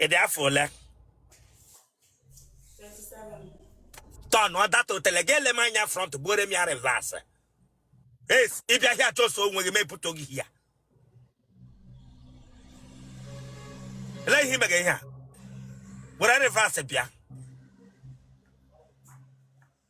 ị dị afọ ole turn that otele gị ele m anya front gbuore m ya reverse yes ị bịa here chọsọ onwe gị mepụta gị here ele ihe ị mega ihe a were reverse bịa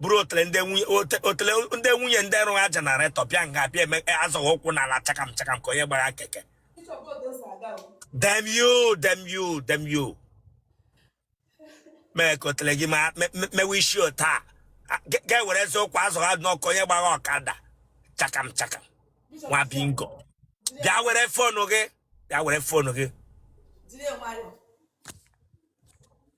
buru otele ndị nwunye ote- otele ndị nwunye ndị rụrụ generator bịa nga bịa azọ ụkwụ n'ala chakam chakam ka onye gbara keke damn you damn you damn you mee ka otele gị ma- me- me- mewe isi otu a A- ga- ga-ewere ezi ụkwụ azọ ka onye gbara ọkada chakam chakam nwa bingo bịa were phone gị bịa were phone gị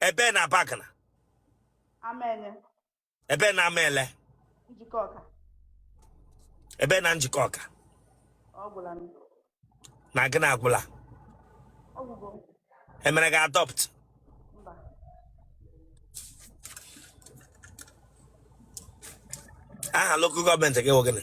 ebe na Abagana Amaenye. ebe na amaele Njikọka. ebe na Njikọka Ọ gwụla m. na gịnị agwụla Ọ gwụgo m. emere gị adopt Mba. aha local government gị wụ gịnị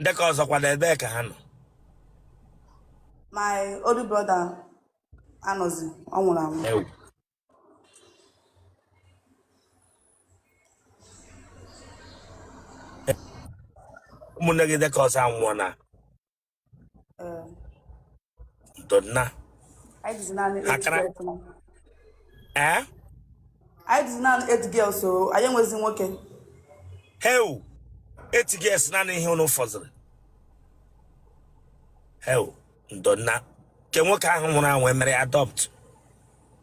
ndị ke ọzọ kwanụ ebe ka ha nọ my older brother anọzi ọ nwụrụ anwụ Ewu. ụmụnne gị ndị ke ọzọ anwụọna Ee, ndo nna Anyị dịzi naanị eight girls na- ee anyị dịzi naanị eight girls so anyị enwezi nwoke. heu eight girls naanị ihe unu fọziri heu ndo nna ke nwoke ahụ nwụrụ anwụ emere ya adopt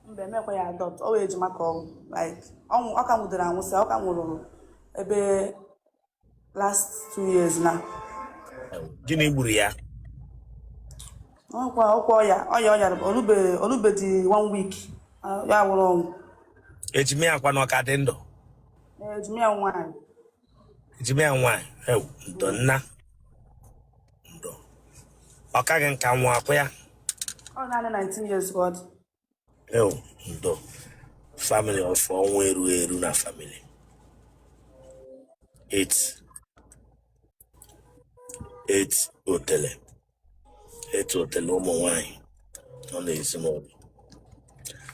Mba emekwa ya adopt, o nwee ejima ka ọ like ọ nwụ- ọ ka nwụdere anwụsị, ọ ka nwụrụ ebe last two years na gịnị gburu ya ọkwa ọkwa ọya ọya ọya o lube o lubedị one week ah, ya nwụrụ ọnwụ ejime ya kwanụ ọ ka dị ndụ Eh, ejime ya nwaanyị ejime ya nwaanyị ewu ndo nna ndo ọ kaghị nka nwoke a ọ naanị 19 years ka ọ dị ewu ndo family of ọnwụ eru eru na family eight eight otele eight otele ụmụ nwanyị nọ n'ezinụlọ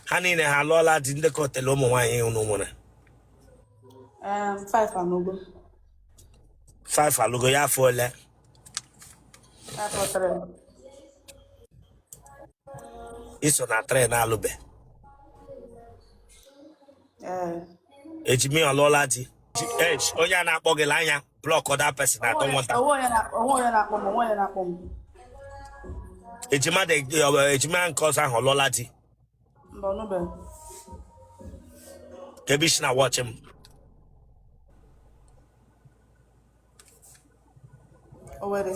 ha niile ha alụọla di ndị ke otele ụmụ nwanyị unu mụrụ Um, five anụgo five alụgo ya afọ ole i so na train alụbe ejima ọ lụọla di onye a na-akpọ gị anya blockụọ that person I don't want that ejima nke ọzọ ahụ ọ lụọla di kee ebe i shi na-watch m Owere.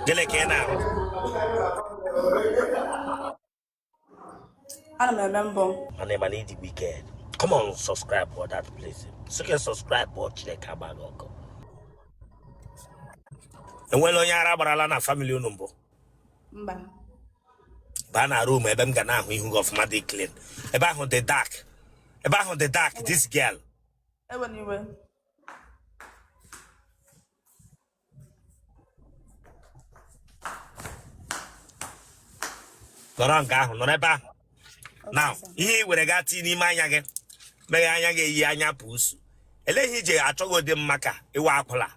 Gịnị ka ị na-arụ? Ana m eme mbọ. Mana ị ma na ị dị wicked. Come on, subscribe for that place. So you can subscribe before Chineke agba gị ọkụ. E nwere onye ara gbarala na family unu mbụ. mba baa na room ebe m ga na-ahụ ihu gị ọfụma dị clean ebe ahụ dị dark ebe ahụ dị dark this girl ewela iwe nọrọ nke ahụ nọrọ ebe ahụ now ihe i were gaa tii n'ime anya gị mee anya gị eyie anya puusu eleghị ije achọghị ụdị mma ka ị wụ akwụla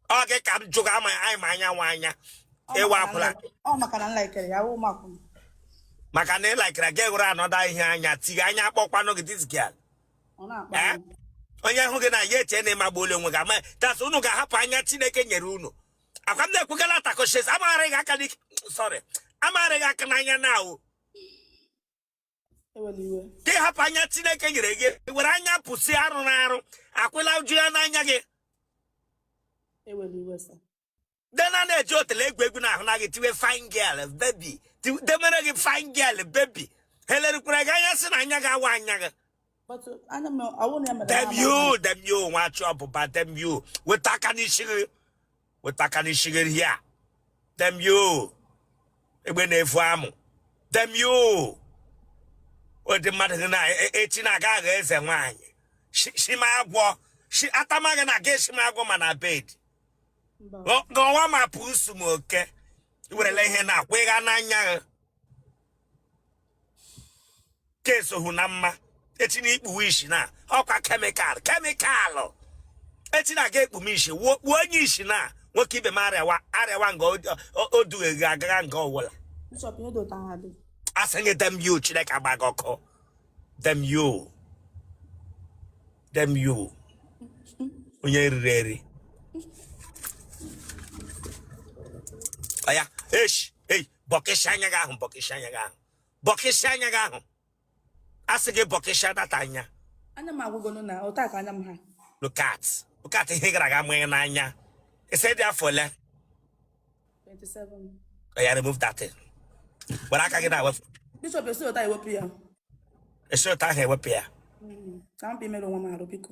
ọ gị ka m jụga ama anyị ma anya nwa anya ị wụ akwụla ọ maka na m likere ya wụ makwụ maka na ị likere gị hụrụ another ihe anya tighe anya akpọkwanụ gị this girl ọ na-akpa Eh? m. onye hụ gị na ya eche na ị magbuola onwe gị ama tas unu ga-ahapụ anya chineke nyere unu akwa m na-ekwugala takoshes amaghara gị aka n'ike sorry amaghara gị aka n'anya now ka ị hapụ anya chineke nyere gị were anya puusi arụ na-arụ akwụla uju ya n'anya gị dena na-eji otele egwu egwu na a hụna gị tiwe fine girl baby demere gị fine girl baby he lerukwara gị anya sị na anya gị awụ anya gị But anya m awụ na emere. Damn you, damn you, nwa achọ ọbụba damn you. Weta aka n'ishi gị. Weta aka n'ishi gị here. Damn you. Egbe na-evu amụ. Damn you. Ụdị mmadụ gị na echi na-aga aghọ eze nwaanyị. Shima agwọ. Atamaghị na aga eshima agwọ ma na bed. Gọwa ma puusu ma oke. I werela ihe na-akwaga n'anya ka i sohu na mma echi na i kpuwe isi na ọkwa chemical chemical echi na-aga ekpume isi wuo kpuo onye isi na nwoke ibe m arịawa arịawa nga o dughe gị agaga nga ọ wụla a sị gị damn you chineke gbaa gị ọkụ damn you damn you onye riri eri ọya eshi bọkịsị anya gị ahụ bọkịsị anya gị ahụ bọkịsị anya gị ahụ a sị gị bọkịsị that anya anya m agwụgonu na otu a ka anya m ha look at look at ihe gara aga mụnye n'anya ị sị ị dị afọ ole 27 oya remove that thing were aka gị na-ewepụ Bishop e si otu a ewepụ ya e si otu ahụ ewepụ ya ka m bịa mere onwe m arụ biko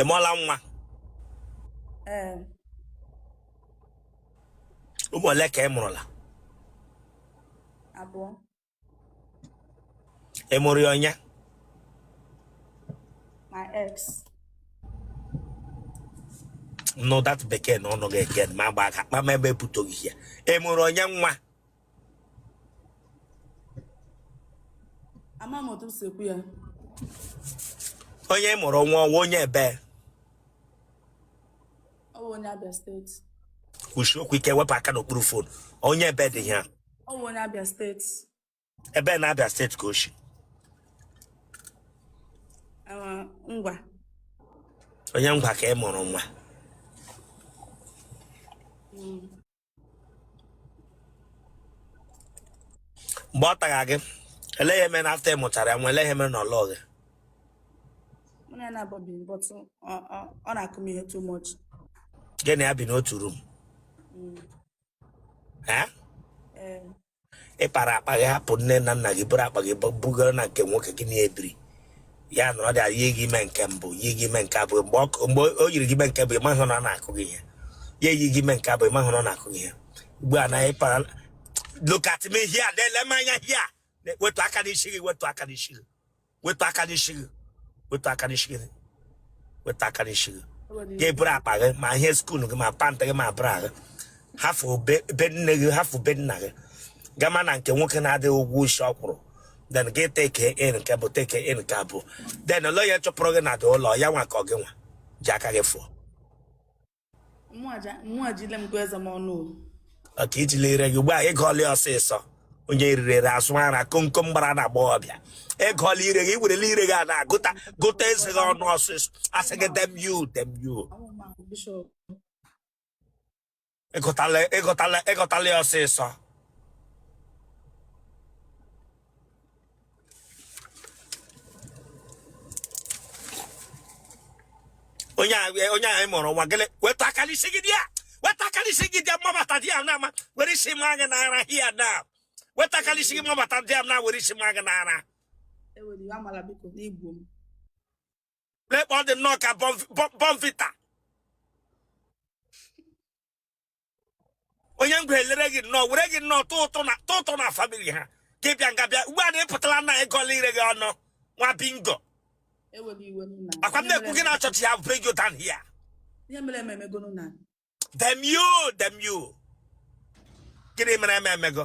ị mụọla nwa ee ụmụ ole ka ị mụrụla abụọ ị mụrụ ya onye my ex nụ that bekee n'ọnụ gị again m agba aka kpama ebe ebutoghị ya ị mụrụ onye nwa ama m otu m si ekwu ya onye ị mụrụ nwa ọ wụ onye ebee ọ bụ onye Abịa steeti kwusie okwu ike wepụ aka n'okpuru fon onye ebee dị ya ọ bụ onye Abịa steeti ebee na Abịa steeti ka o shi Ah, Ngwa onye Ngwa ka ị mụrụ nwa mgbe ọ tagha gị elee ihe mere na after ị mụchara ya nwa elee ihe mere na ọ lụọ gị Mụ na ya naabọ bi but ọ- ọ- ọ na-akụ m ihe too much. gị na ya bi n'otu rum ee Ee, ị para akpa gị hapụ nne na nna gị buru akpa gị bugara na nke nwoke gị na ya ebiri ya nọrọ there yie gị ime nke mbụ yie gị ime nke abụọ mgbe o yiri gị ime nke mbụ ị mahụ na ọ na-akụ gị ihe ya eyi gị ime nke abụọ ị mahụ na ọ na-akụ gị ihe ugbu a na ị para look at me here na-ele m anya here wetu aka n'isi gị wetu aka n'isi gị wetu aka n'isi gị wetu aka n'isi gị wetu aka n'isi gị gị eburu akpa gị ma ihe skuul gị ma pant gị ma bra gị hafụ be nne gị hafụ be nna gị gama na nke nwoke na-adịghị ụgwọ isi ọ kwụrụ then gị take in nke mbụ take in nke abụọ then ụlọ ya chụpụrụ gị na the ụlọ ya nwa ka ọ gị nwa ji aka gị fụọ ọ ka ị jila ire gị ugbu a ị gụọla ọsịsọ onye rirere asụ ara komkom gbara n'agbọghọbịa ị gụọla ire gị werela ire gị a na-agụta gụta eze gị ọnụ ọsịsọ a sị gị damn you damn you ị gụtala ị gụtala ị gụtala ya ọsịsọ onye a- onye anyị mụrụ nwa gịnị wetu aka n'isi gị there wetu aka n'isi gị there m mabata there na m ma were isi maa gị n'ara hia na wetu aka n'isi gị m mabata there na were isi maa gị n'ara ewele iwe amala biko n'Igbo m lekpọ dị nnọọ ka Bournvita onye ngwa elere gị nnọọ were gị nnọọ tụ ụtụ na family ha ka ị bịa nga bịa ugbu a na ịpụtala na ịgọla ire gị ọnụ nwa bingo ewela iwe nna ọ kwa m na-ekwu gị na chọọchị ha bring you down here ihe mere eme emegonu na damn you damn you gịnị mere eme emego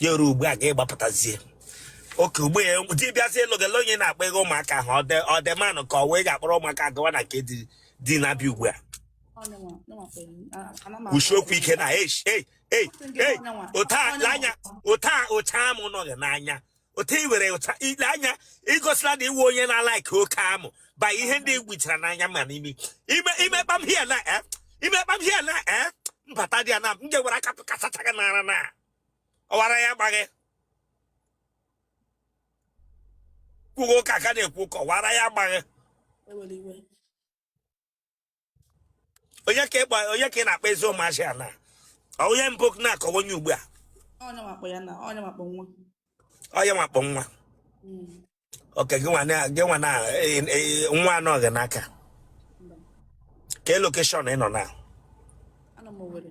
ya ruo ugbu a gị agbapụtazie okay ugbu a di bịazie lụọ gị ele onye na-akpọ gị ụmụaka ahụ ọ the man ahụ ka ọ wụ ị ga-akpọrọ ụmụaka gawa na nke di na-abịa ugbu a kwusie okwu ike na ote anya ụcha amụ nọ gị n'anya otu i were ụcha ele anya igosila na ị wụ onye na-alike oke amụ ba ihe ndị i gbuchara n'anya ma n'imi ime i mee kpam here now e i mee kpam here now e m bata there na m ga-ewere aka kasacha gị n'ara na ọ wụ ara ya gbaa gị kwuo ụka a ka na-ekwu ka ọ wụ ara ya gbaa gị onye ka ịgba onye ka ị na-akpa ezi ụmụazị a na Ọ onye mbụ na ka ọ wụ onye ugbu a onye makpọ ya na onye makpọ nwa onye makpọ nwa Mm. okay gị nwa na- gị nwa na eh, eh, nwa nọ gị n'aka Mba. kee location ị nọ now Anọ m Owerri.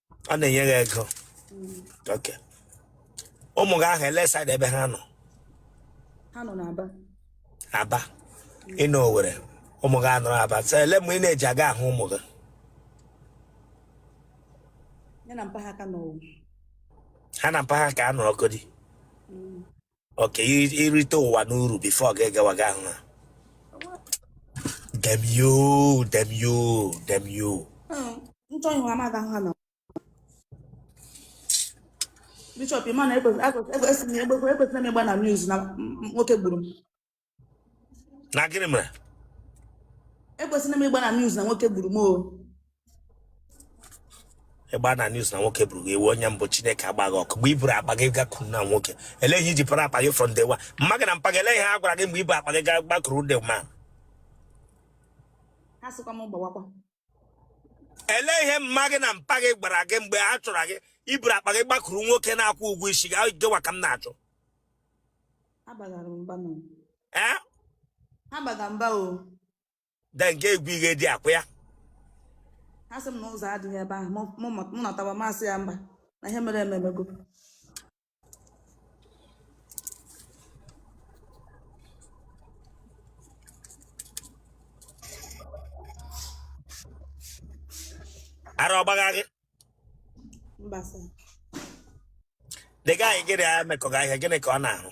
ọ na-enye gị ego okay ụmụ gị ahụ ele side ebe ha nọ ha nọ n'Aba Aba ị nọ Owerri ụmụ gị anọrọ Aba so ele mgbe ị na-eji aga ahụ ụmụ gị ya na mpa ha ka nọ ha na mpa ha ka nọrọgodi okay i- i rite ụwa n'uru before gị agawa ga ahụ ha damn you damn you damn you nchọ ihu amaghị ahụ ha na bishop ị ma na ekwesịrị m ịgba na news na m- m- nwoke gburu m na gịnị mere ekwesịrị m ịgba na news na nwoke gburu m o ịgba na news na nwoke gburu gị ewu onye mbụ Chineke agba gị ọkụ mgbe i buru akpa gị gakuru na nwoke elee ihe i ji para akpa gị from day one mma gị na mpa gị elee ihe a gwara gị mgbe i bu akpa gị ga gbakuru the man ha sịkwa m gbawakwa ele ihe mma gị na mpa gị gwara gị mgbe ha chọrọ gị i buru akpa gị gbakuru nwoke na-akwụ ụgwọ isi gị gịwa ka m na-achọ ee then nke egwu ihe dị akwa ya ha sị m na ụzọ adịghị ebe ahụ mụ nọtawa m asị ya mba na ihe mere eme emego ara ọ gbagha gị the guy gị na ya mekọga ihe a gịnị ka ọ na-arụ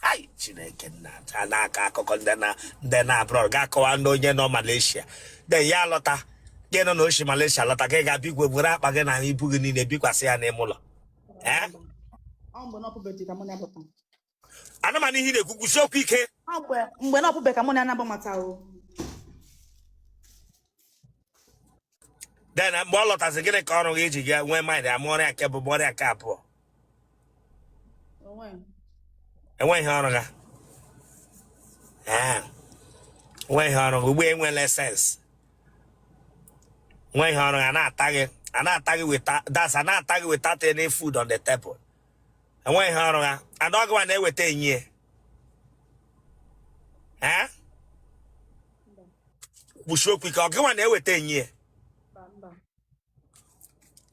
Hai, chineke nna a na-akọ akụkọ ndị na ndị nọ abroad ga-akọwa ndị onye nọ malaysia then ya alọta gị nọ na oshi malaysia lọta gị gaa be igwe buru akpa gị na ibu gị niile bikwasị ya n'ime ụlọ ee Ọ mgbe na ọ pụbeghị ka mụ na ya pụta. anụmanụ ihe ị na-ekwu kwusi okwu ike Ọ mgbe mgbe na ọ pụbeghị ka mụ na ya na-agbamata o. then mgbe ọ lọtazi gịnị ka ọ rụga i ji nwee mind mụọra ya nke mbụ mụọra ya nke abụọ Onwe m. o nweghị ihe ọ rụga Ah, o nweghị ihe ọ rụga ugbu a i nwele sense o nweghị ihe ọ rụga a na-ata gị a na-ata gị without a na-ata gị without any food on the table o nweghị ihe ọ rụga and ọ gị nwa na-eweta enye ya ee kwusie okwu ike ọ gị nwa na-eweta enye ya mba mba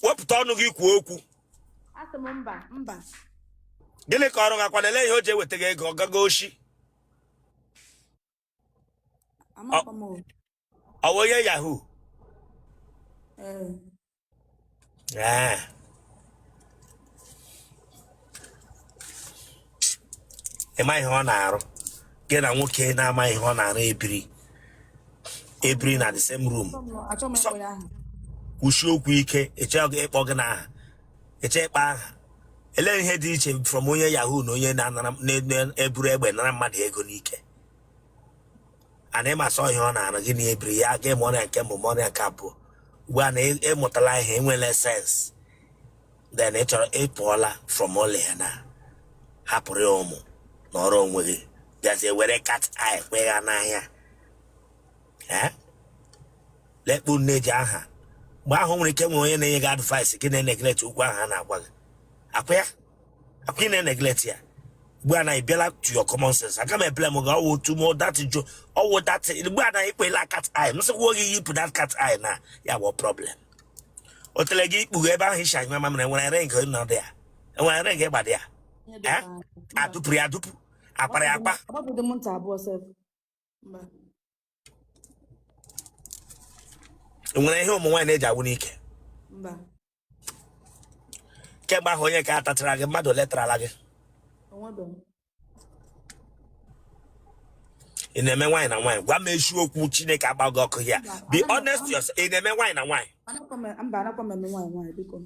wepụta ọnụ gị kwuo okwu asị m mba mba gịnị ka ọ rụgakwanụ ele ihe o ji ewetaga ego ọ gaga oshi amakwa m o. ọ bụ onye yahoo Ee, Ee. ị ma ihe ọ na-arụ gị na nwoke na-ama ihe ọ na-arụ ebiri ebiri na the same room achọ m- achọ m ịkpọ ya aha kwusie okwu ike ị chọghị ịkpọ gịnị aha ị chọghị ịkpọ aha elee ihe dị iche from onye yahoo na onye na-anara na- na- eburu egbe nara mmadụ ego n'ike and ị ma sọ ihe ọ na-arụ gị na ya ebiri ya gị amụọra ya nke mbụ mụọra ya nke abụọ ugbu a na ị- ị mụtala ihe i nweela sense then ị chọrọ ịpụọla from ụlọ ya na hapụrụ ya ụmụ nọọrọ onwe gị bịazie were cat eye kwe ya n'anya ee lekpu nne ji aha mgbe ahụ nwere ike nwere onye na-enye gị advice gị na-eneglect okwu ahụ a na-agwa gị akwa ya akwa ị na-eneglect ya ugbu a na ị bịala to your common sense aga m eblame gị over tu mo that jo over that ugbu a na i kwela cat eye m sịkwa gị yipụ that cat eye na ya bụ problem otele gị ikpu gị ebe ahụ i si anyụ mamịrị e nwere ring nọdụ ya e nwere ring ị gbado ya Ihe dị Eh? ka- mba. a dụpuru ya adụpu a kpara ya akpa Agbapughị m ntị abụọ sef. Mba. nwere ihe ụmụ nwaanyị na-eji agwụ n'ike mba kemgbe ahụ onye ka tachara gị mmadụ ole tarala gị o nwebeghị. ị na-eme nwaanyị na nwaanyị gwa m eziokwu chineke agba gị ọkụ ya be honest to yourself ị na-eme nwaanyị na nwaanyị Anakwa m- mba anakwa m eme nwaanyị nwaanyị biko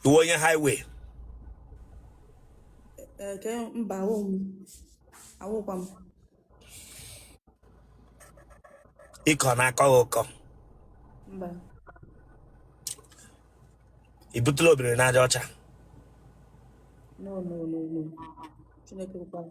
ị wụ onye highway Eke mba awụ m awụkwa m ịkọ na-akọ gị ụkọ mba ị butela obiri n'aja ọcha no no no no Chineke ekwekwala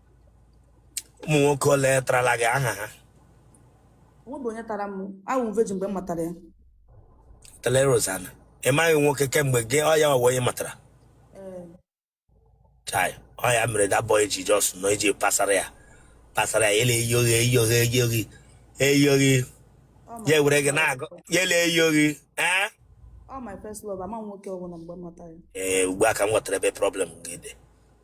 ụmụ nwoke ole tarala gị aha ha o nwebe onye tara m awụ m virgin mgbe m matara ya Otele Rosanna ị maghị nwoke kemgbe gị ọ ya ọwa onye ị matara ee chai ọ ya mere that boy ji just nọ iji pasara ya pasara ya ele eyi oghe eyi oghe eyi oghe eyi oghe ọ ma ya ewere gị na-agụ ya ele eyi oghe ee ọ my first love ama m nwoke ọbụla mgbe m matara ya ee ugbu a ka m ghọtara ebe problem gị dị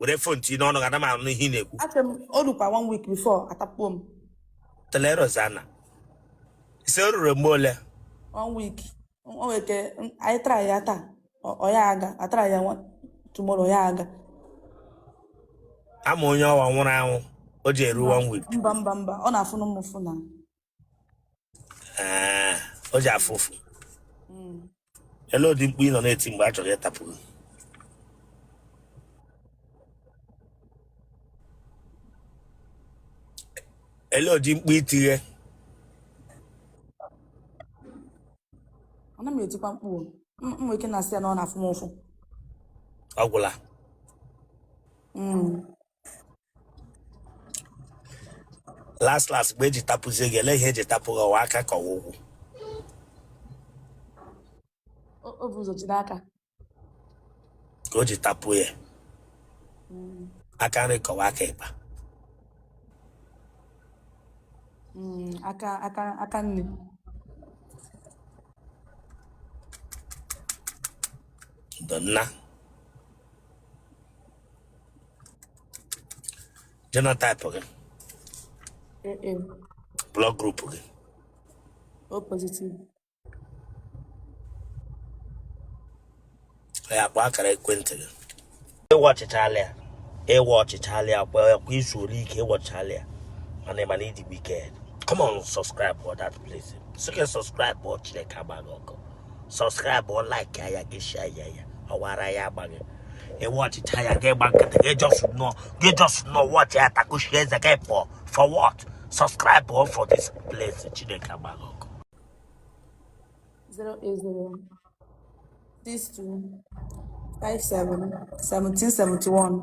were phone tinye n'ọnụ gị ana m anụ ihe ị na-ekwu asị m o rukwa one week before atakpuo m Otele Rosanna ị sị o ruru mgbe ole one week o nwere ike m- anyị try ya taa ọ ọ ya aga a try ya nwa- tomorrow ọ ya aga amụ onye ọwa nwụrụ anwụ o ji eru one week mba mba mba ọ na-afụnụ m ụfụ na Ee, o ji afụ ụfụ Mm. ele ụdị mkpu ị nọ na-eti mgbe a chọrọ ịtapụ gị ele ụdị mkpu itighe ana m etikwa mkpu o. M- m nwere ike na-asị ya na ọ na-afụ m ụfụ ọ gwụla Mm. last last mgbe eji tapụzie gị ele ihe eji tapụ gị ọwa aka ka ọwa ụkwụ o o bụ ụzọ jide aka ka o ji tapụ ya Mm, aka nri ka ọwa aka ịkpa mm, aka aka aka nne ndụ nna Genotype gị. Mm-mm. Blood group gị. O positive. Ya kpọọ akara ekwentị gị. Ị watchịchaala ya. Ị watchịchaala ya kwa kwa izu ole ike ị watchịchaala ya. Mana ị mana ị dị wicked. Come on subscribe for that place. Sị gị subscribe before Chineke agba gị ọkụ. subscribe like ya gị share ya ya ọwa ara ya agba gị ị watchịcha ya gị gba nkịtị gị just nọ gị just nọ watchị ya takushi eze gị pụọ for what subscribe o for this place Chineke agba gị ọkụ 080 62 57 1771